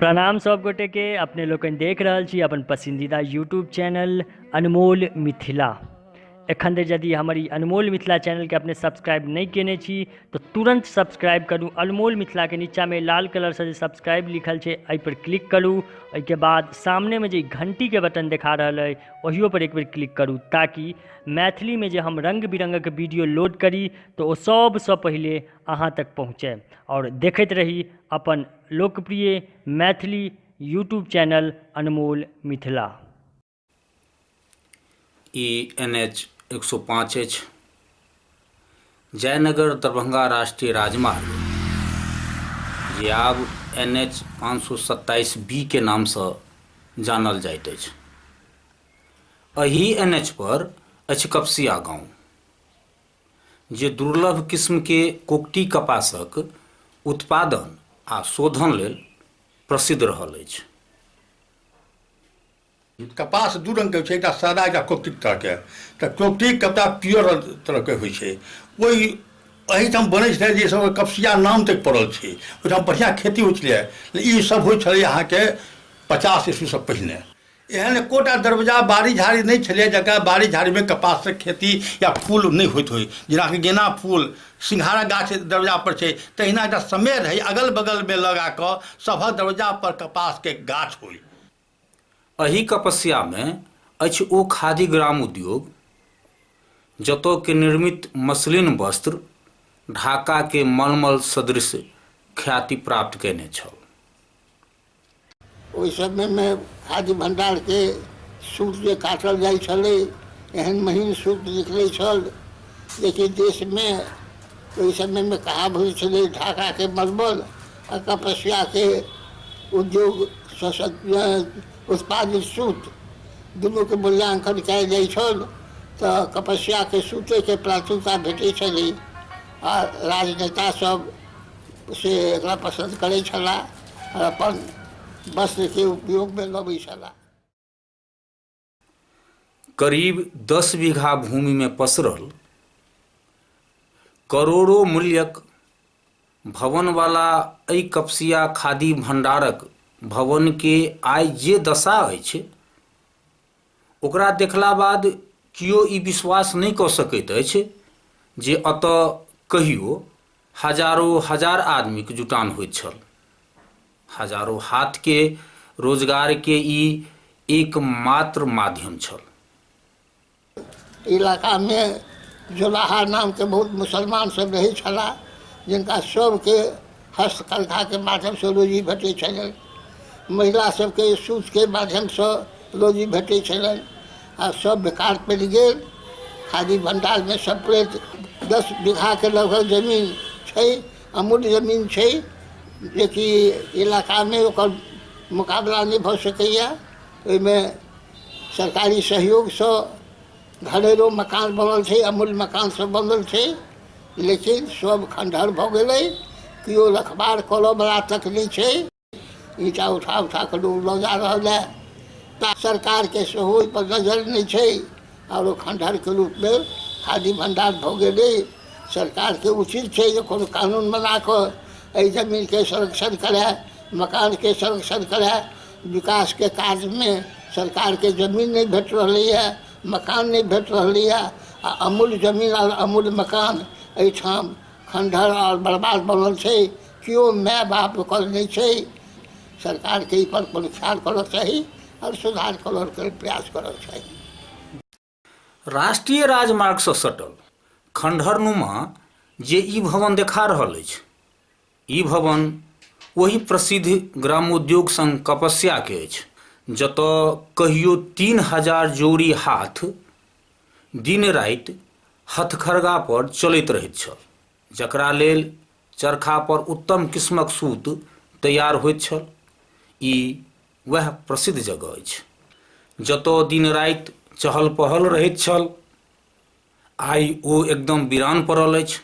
प्रणाम सब गोटे के अपने लोकनि देख रहल छी अपन पसंदीदा यूट्यूब चैनल अनमोल मिथिला एखन धरि यदि हमर ई अनमोल मिथिला चैनलके अपने सब्सक्राइब नहि केने छी तऽ तुरन्त सब्सक्राइब करू अनमोल मिथिलाके नीचाँमे लाल कलरसँ जे सब्सक्राइब लिखल छै एहिपर क्लिक करू ओहिके बाद सामनेमे जे घण्टीके बटन देखा रहल अइ ओहियोपर एक बेर क्लिक करू ताकि मैथिलीमे जे हम रङ्ग बिरङ्गक वीडियो लोड करी तऽ ओ सभसँ पहिले अहाँ तक पहुँचै आओर देखैत रही अपन लोकप्रिय मैथिली यूट्यूब चैनल अनमोल मिथिला ई एन एच एक सौ पाँच अछि जयनगर दरभंगा राष्ट्रीय राजमार्ग जे आब एन एच पाँच सौ सत्ताइस बी के नामसँ जानल जाइत अछि एहि एन एच पर अछि कपसिया गाँव जे दुर्लभ किस्म के कोकटी कपासक उत्पादन आ शोधन लेल प्रसिद्ध रहल अछि। कपास दू रंग के होइ छै एकटा सादा एकटा कोकटी तरह के तऽ कोकटी कपड़ा पियर तरह के होइ छै ओहि एहिठाम बनै छलै जे सब कपसिया नाम तक पड़ल छै ओहिठाम बढ़िया खेती होइ छलै ई सब होइ छलै अहाँके पचास ईस्वी से पहिने एहन एकोटा दरवाजा बाड़ी झाड़ी नहि छलै जकरा बाड़ी झाड़ीमे कपासक खेती या फूल नहि होइत होइ जेनाकि गेना फूल सिंघारा गाछ दरवाजा पर छै तहिना एकटा समय रहै अगल बगलमे लगा कऽ सभक दरवाजा पर कपासके गाछ होइ एहि कपस्यामे अछि ओ खादी ग्राम उद्योग जतय के निर्मित मसलिन वस्त्र ढाका के मलमल सदृश ख्याति प्राप्त कयने छल ओहि समय मे खाद्य भंडार के सूत जे काटल जाइ छलै एहन महीन सूत निकलै छल जेकि देश मे ओहि समय मे कहा होइ छलै ढाका के बर्बल आ तपस्या के उद्योग उत्पादित सूत दुनू के मूल्यांकन कयल जाइ छल तऽ तपस्या के सूते के प्राथमिकता भेटै छलै आ राजनेता सब से एकरा पसन्द करै छलाह आओर अपन वस्त्रके उपयोगमे लबै छलाह करीब दस बीघा भूमिमे पसरल करोड़ो मूल्यक भवनवाला एहि कपसिया खादी भंडारक भवनके आइ जे दशा अछि ओकरा देखला बाद केओ ई विश्वास नहि कऽ सकैत अछि जे एतय कहियो हजारो हजार आदमीके जुटान होइत छल हजारो हाथके रोजगारके ई एकमात्र माध्यम छल इलाकामे जोलाहा नामके बहुत मुसलमान सब रहै छलाह जिनका सबके हस्तकन्घाके माध्यमसँ रोजी भेटै छलनि महिला सबके सूतके माध्यमसँ रोजी भेटै छलनि आ सब बेकार पड़ि गेल खादी भण्डारमे सब प्लेट दस बीघाके लगभग जमीन छै अमूल्य जमीन छै जेकि इलाकामे ओकर मोकाबला नहि भऽ सकैया ओहिमे सरकारी सहयोगसँ घरेलू मकान बनल छै अमूल मकान सब बनल छै लेकिन सब खंडहर भऽ गेलै केओ रखबार करऽ बला तक नहि छै ईटा उठा उठा कऽ लोग लऽ जा रहल है ता सरकारके सेहो ओहि पर नजर नहि छै आओर ओ खंडहरके रूपमे खादी भंडार भऽ गेलै सरकारके उचित छै जे कोनो कानून बना कऽ एहि जमीनके संरक्षण करए मकानके संरक्षण करए विकासके काजमे सरकारके जमीन नहि भेट रहलैए मकान नहि भेट रहलैए आ अमूल्य जमीन आओर अमूल्य मकान एहिठाम खण्डहर आओर बर्बाद बनल छै केओ माय बाप ओकर नहि छै सरकारके एहिपर कोनो ख्याल करक चाही आओर सुधार करयके प्रयास करक चाही राष्ट्रीय राजमार्ग से सटल खंडहरनुमा जे ई भवन देखा रहल अछि ई भवन ओहि प्रसिद्ध ग्रामोद्योग संघ कपस्या के अछि जतय कहियो तीन हजार जोड़ी हाथ दिन राति हथखरगा पर चलैत रहैत छल जकरा लेल चरखा पर उत्तम किस्मक सूत तैयार होइत छल ई वएह प्रसिद्ध जगह अछि जतऽ दिन राति चहल पहल रहैत छल आइ ओ एकदम वीरान पड़ल अछि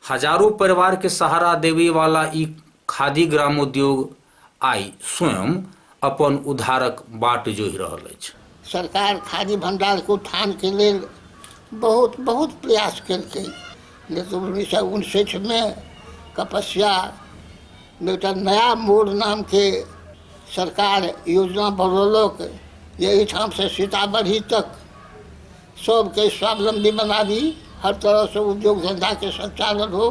हजारों परिवार के सहारा देवे वाला ई खादी ग्रामोद्योग आइ स्वयं अपन उद्धारक बाट जोहि रहल अछि सरकार खादी भण्डारके उत्थानके लेल बहुत बहुत प्रयास केलकै लेकिन उन्नैस सए उनसठिमे कपस्या मे एकटा नया मोड़ नामके सरकार योजना बनौलक जे एहिठाम से सीतामढ़ी तक सबके स्वावलम्बी बनाबी हर तरह से उद्योग धंधा के संचालन हो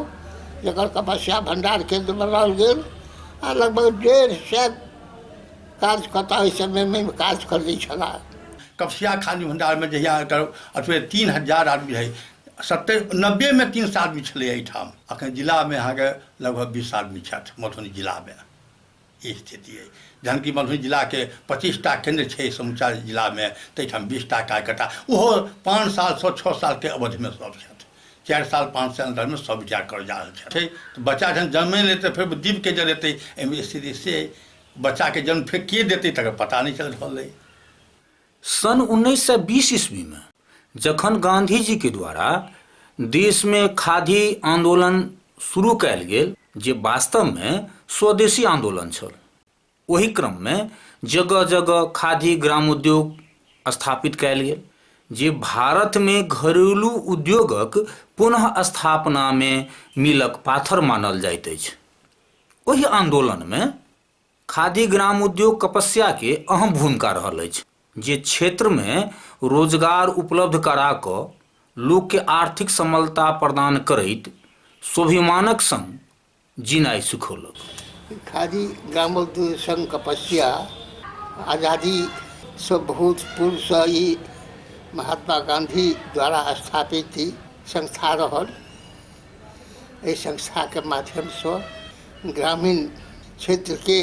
जेकर कपस्या भण्डार केन्द्र बनाओल गेल आ लगभग डेढ़ सए काज कतऽ ओहि समयमे काज करै छलाह कपसिया खाद्य भंडारमे जहिया एकर अथवे तीन हजार आदमी रहै सत्तर नब्बेमे तीन सए आदमी छलै एहिठाम अखन जिलामे अहाँके लगभग बीस आदमी छथि मधुबनी जिलामे ई स्थिति अइ जहन कि मधुबनी जिलाके पच्चीसटा केन्द्र छै समूचा जिलामे ताहिठाम बीसटा कार्यकर्ता ओहो पाँच सालसँ छओ सालके अवधिमे सभ छथि चारि साल पाँच साल अन्दरमे सभ रिटायर कर जा रहल छथि बच्चा जहन जन्मे लेतै फेर दीपके जरेतै एहिमे स्थिति से अइ बच्चाके जन्म फेर के देतै तकर पता नहि चलि रहल अइ सन उन्नैस सए बीस ईस्वीमे जखन गांधीजीके द्वारा देशमे खादी आंदोलन शुरू कयल गेल जे वास्तवमे स्वदेशी आंदोलन छल ओहि क्रममे जगह जगह खादी ग्रामोद्योग स्थापित कयल गेल जे भारतमे घरेलू उद्योगक पुनः स्थापनामे मीलक पाथर मानल जाइत अछि ओहि आन्दोलनमे खादी ग्राम उद्योग कपस्याके अहम भूमिका रहल अछि जे क्षेत्रमे रोजगार उपलब्ध करा कऽ लोकके आर्थिक समलता प्रदान करैत स्वाभिमानक सङ्ग जिनाइ सिखौलक। खादी ग्रामोद्योग सङ्घ कपस्या आजादीसँ बहुत पूर्वसँ ई महात्मा गाँधी द्वारा स्थापित ई संस्था रहल। एहि संस्थाके माध्यमसँ ग्रामीण क्षेत्रके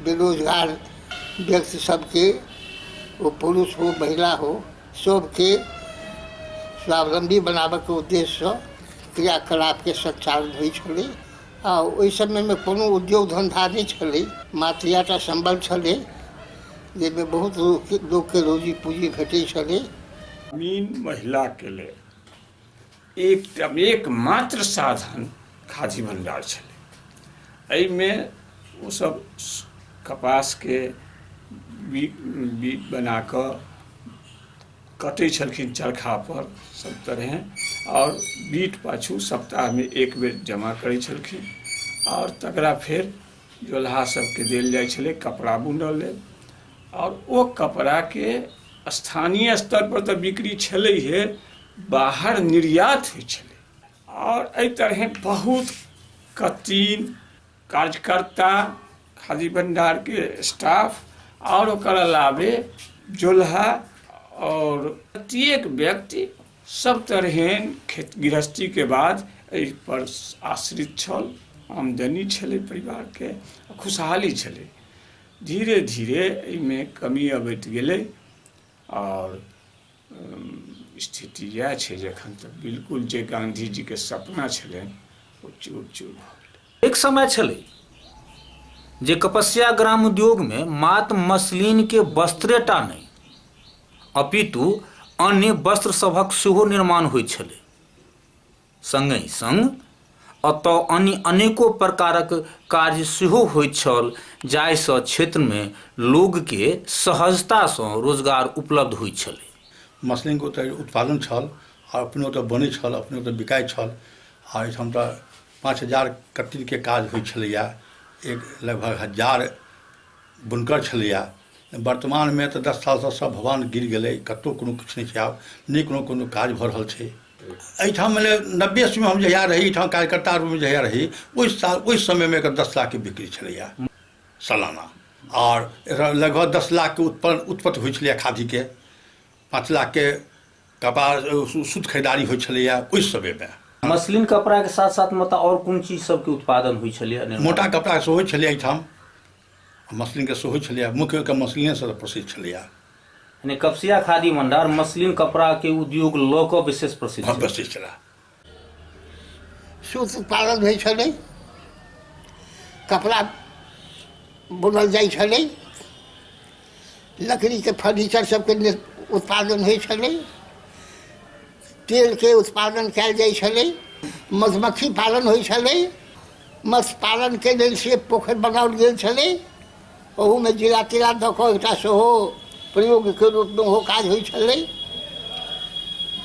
बेरोजगार व्यक्ति सभके ओ पुरुष हो महिला हो सभके स्वावलम्बी बनाबयके उद्देश्यसँ क्रियाकलापके सञ्चालन होइ छलै आ ओहि समयमे कोनो उद्योग धन्धा नहि छलै मात्र इएह टा सम्बन्ध छलै जाहिमे बहुत लोक लोकके रोजी पूजी भेटै छलै ग्रामीण महिलाके लेल एक एकमात्र साधन खादी भंडार छलै एहिमे ओसभ कपासके बी बी बना कऽ कटै छलखिन चरखा पर सभ तरहे आओर बीट पाछू सप्ताहमे एक बेर जमा करै छलखिन आओर तकरा फेर जोलहा सभके देल जाइ छलै कपड़ा बुनय लेल आओर ओ कपड़ाके स्थानीय स्तर पर तऽ बिक्री छलैहे बाहर निर्यात होइ छलै आओर एहि तरहे बहुत कत्तिन कार्यकर्ता खादी भंडारके स्टाफ आओर ओकर अलावे जोलहा आओर प्रत्येक व्यक्ति सब तरहे खेत गृहस्थीके बाद एहि पर आश्रित छल आमदनी छलै परिवारके खुशहाली छलै धीरे धीरे एहिमे कमी अबैत गेलै आओर स्थिति इएह छै जे एखन तऽ बिलकुल जे गाँधीजीके सपना छलनि ओ चूर चूर भऽ गेलै एक समय छलै जे कपस्या ग्राम उद्योगमे मात मसलिनके वस्त्रेटा नहि अपितु अन्य वस्त्र सभक सेहो निर्माण होइत छलै संगहि संग अतय अन्य अनेको प्रकारक कार्य सेहो होइत छल जाहि सँ क्षेत्र मे लोग के सहजता सँ रोजगार उपलब्ध होइत छलै। मसलिन के ओतय उत्पादन छल आ अपने ओतय बनै छल अपने ओतय बिकाइत छल आ एहिठाम तऽ पाँच हजार कत्तिन के काज होइत छलैया एक लगभग हजार बुनकर छलैया वर्तमान मे तऽ दस साल सँ सब भवान गिर गेलै कतौ कोनो किछु नहि छै आब नहि कोनो कोनो काज भऽ रहल छै एहिठाम मने नब्बे ईस्वीमे हम जहिया रही एहिठाम कार्यकर्ता रूपमे जहिया रही ओहि साल ओहि समयमे एकर दस लाखके बिक्री छलैए सालाना आओर एकर लगभग दस लाखके उत्पन्न उत्पत्ति होइ छलैए खादीके पाँच लाखके कपास सू- सूत खरीदारी होइ छलैए ओहि समयमे मसलिन कपड़ा के साथ साथ मतलब और कोन चीज सब के उत्पादन हुई छलै मोटा कपड़ा सेहो छलै एहिठाम मसलिनके सेहो छलैए मुख्य ओहिके मसलिनेसँ प्रसिद्ध छलैए यानी कपसिया खादी भंडार मसलिन कपड़ाके उद्योग लऽ कऽ विशेष प्रसिद्ध भव्य छै। से छलए सूत उत्पादन होइ छलै कपड़ा बुनल जाइ छलै लकड़ीके फर्नीचर सबके नि- उत्पादन होइ छलै तेलके उत्पादन कयल जाइ छलै मधुमक्खी पालन होइ छलै मत्स्य पालनके लेल से पोखरि बनाओल गेल छलै ओहूमे जिला तिला दऽ कऽ एकटा सेहो प्रयोगके रूपमे ओहो काज होइ छलै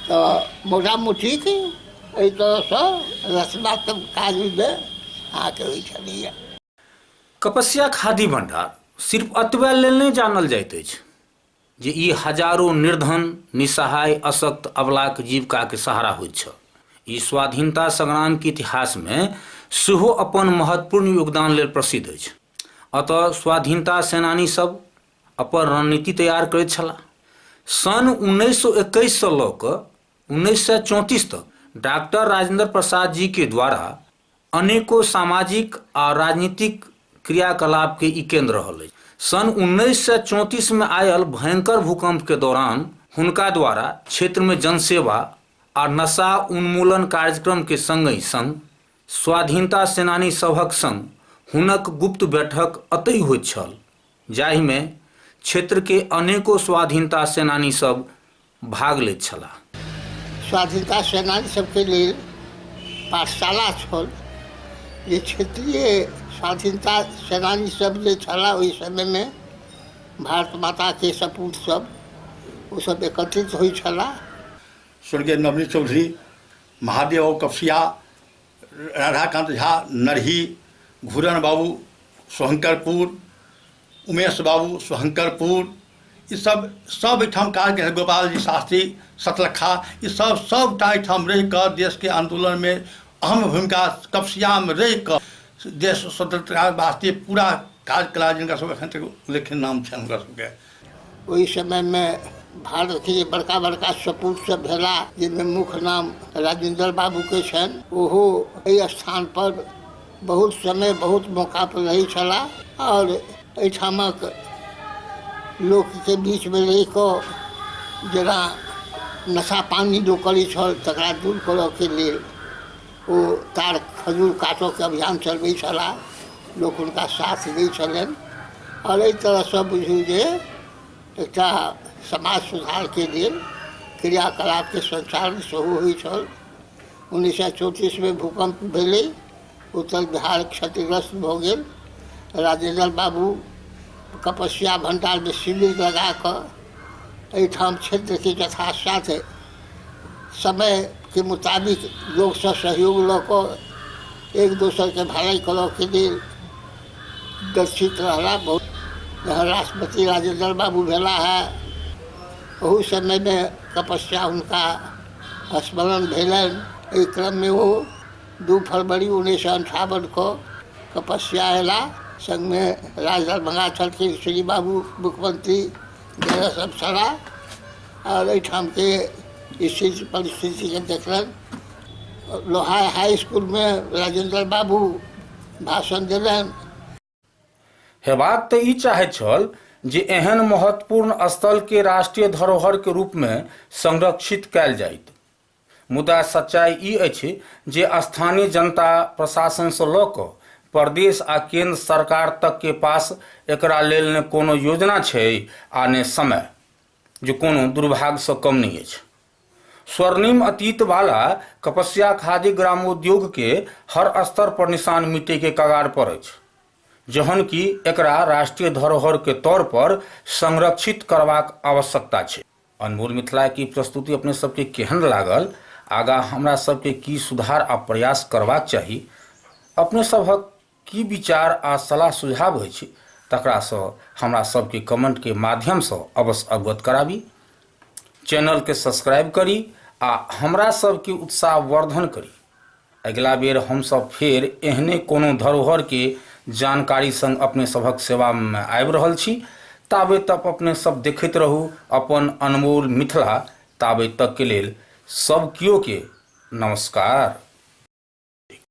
तऽ मोटा मोटीक एहि तरहसँ रचनात्मक काजमे अहाँके होइ छलैए कपस्या खादी भंडार सिर्फ अतबे लेल नहि जानल जाइत अछि जे ई हजारो निर्धन निसहाय अशक्त अबलाक जीविकाके सहारा होइत छल ई स्वाधीनता संग्रामके इतिहासमे सेहो अपन महत्वपूर्ण योगदान लेल प्रसिद्ध अछि अतः स्वाधीनता सेनानी सब अपन रणनीति तैयार करैत छलाह सन् उन्नैस सौ एकैससँ लऽ कऽ उन्नैस सौ चौंतीस तक डॉक्टर राजेंद्र प्रसाद जी के द्वारा अनेको सामाजिक आ राजनीतिक क्रियाकलाप के ई केंद्र रहल अछि। सन् उन्नैस सय चौंतीस में आयल भयंकर भूकंप के दौरान हुनका द्वारा क्षेत्र में जनसेवा आ नशा उन्मूलन कार्यक्रम के संगहि संग स्वाधीनता सेनानी सभक संग हुनक गुप्त बैठक अतहि होइत छल जाहि में क्षेत्र के अनेको स्वाधीनता सेनानी सब भाग लैत छलाह। स्वाधीनता सेनानी सभके लेल पाठशाला छल जे क्षेत्रीय स्वाधीनता सेनानी सभ जे छलाह ओहि समयमे भारत माताके सपूत सभ ओ सभ एकत्रित होइत छलाह। स्वर्गीय नवनीत चौधरी, महादेव और कपसिया राधाकान्त झा नरही घुरन बाबू सोहंकरपुर उमेश बाबू सोहंकरपुर ई सब सब एहिठाम काज केलथि गोपाल जी शास्त्री सतलखा ई सब सबटा एहिठाम रहि कऽ देशके आन्दोलनमे अहम भूमिका कपसियामे रहि कऽ देश स्वतंत्रता वास्ते पूरा काज केला जिनका सब एखन तक उल्लेखनीय नाम छनि हुनकर सबके ओहि समय मे भारत के जे बड़का बड़का सपूत सब भेला जाहिमे मुख्य नाम राजेन्द्र बाबू के छनि ओहो एहि स्थान पर बहुत समय बहुत मौका पर रहै छलाह आओर एहिठामक लोक के बीच मे रहि कऽ जेना नशा पानी लोक करै छल तकरा दूर करऽ के लेल ओ तार खजूर काटऽके अभियान चलबै छलाह लोक हुनका साथ दै छलनि आओर एहि तरहसँ बुझू जे एकटा समाज सुधारके लेल क्रियाकलापके सञ्चालन सेहो होइ छल उन्नैस सए चौतीसमे भूकम्प भेलै उत्तर बिहार क्षतिग्रस्त भऽ गेल राजेन्द्र बाबू कपस्या भण्डारमे शिविर लगाकऽ एहिठाम क्षेत्रके यथासाथ समयके मोताबिक लोकसँ सहयोग लऽ कऽ एक दोसरके भलाइ करऽके लेल दक्षित रहला बहुत जहाँ राष्ट्रपति राजेन्द्र बाबू भेला है ओहू समयमे तपस्या हुनका स्मरण भेलनि एहि क्रममे ओ दू फरवरी उन्नैस सए अन्ठावन कऽ तपस्या अयला सङ्गमे राजदरभंगा छलखिन श्री बाबू मुख्यमंत्री जकरा सब सड़ा आओर एहिठामके स्थिति परिस्थितिके देखलनि लोहार हाइ इसकुलमे राजेन्द्र बाबू भाषण देलनि हेबाक तऽ ई चाहैत छल जे एहन महत्वपूर्ण स्थलके राष्ट्रीय धरोहरके रूपमे संरक्षित कयल जाइत मुदा सच्चाइ ई अछि जे स्थानीय जनता, प्रशासनसँ लऽ कऽ प्रदेश आ केन्द्र सरकार तकके पास एकरा लेल ने कोनो योजना छै आ ने समय, जे कोनो दुर्भागसँ कम नहि अछि। स्वर्णिम अतीत बाला कपस्या खादी ग्रामोद्योगके हर स्तर पर निशान मिटैके कगार पर अछि, जहन कि एकरा राष्ट्रीय धरोहरके तौर पर संरक्षित करबाक आवश्यकता छै। अनमोल मिथिला की प्रस्तुति अपने सबके केहन लागल आगा हमरा सबके की सुधार आ प्रयास करबाक चाही अपने सबहक की विचार आ सलाह सुझाव अछि तकरासँ हमरा सबके कमेंट के माध्यम सँ अवश्य अवगत कराबी चैनल के सब्सक्राइब करी आ हमरा सबके उत्साह वर्धन करी अगिला बेर हम सब फेर एहने कोनो धरोहर के जानकारी संग अपने सभक सेवा में आबि रहल छी ताबे तक अपने सब देखैत रहू अपन अनमोल मिथिला ताबे तक के लेल सब कियो के नमस्कार।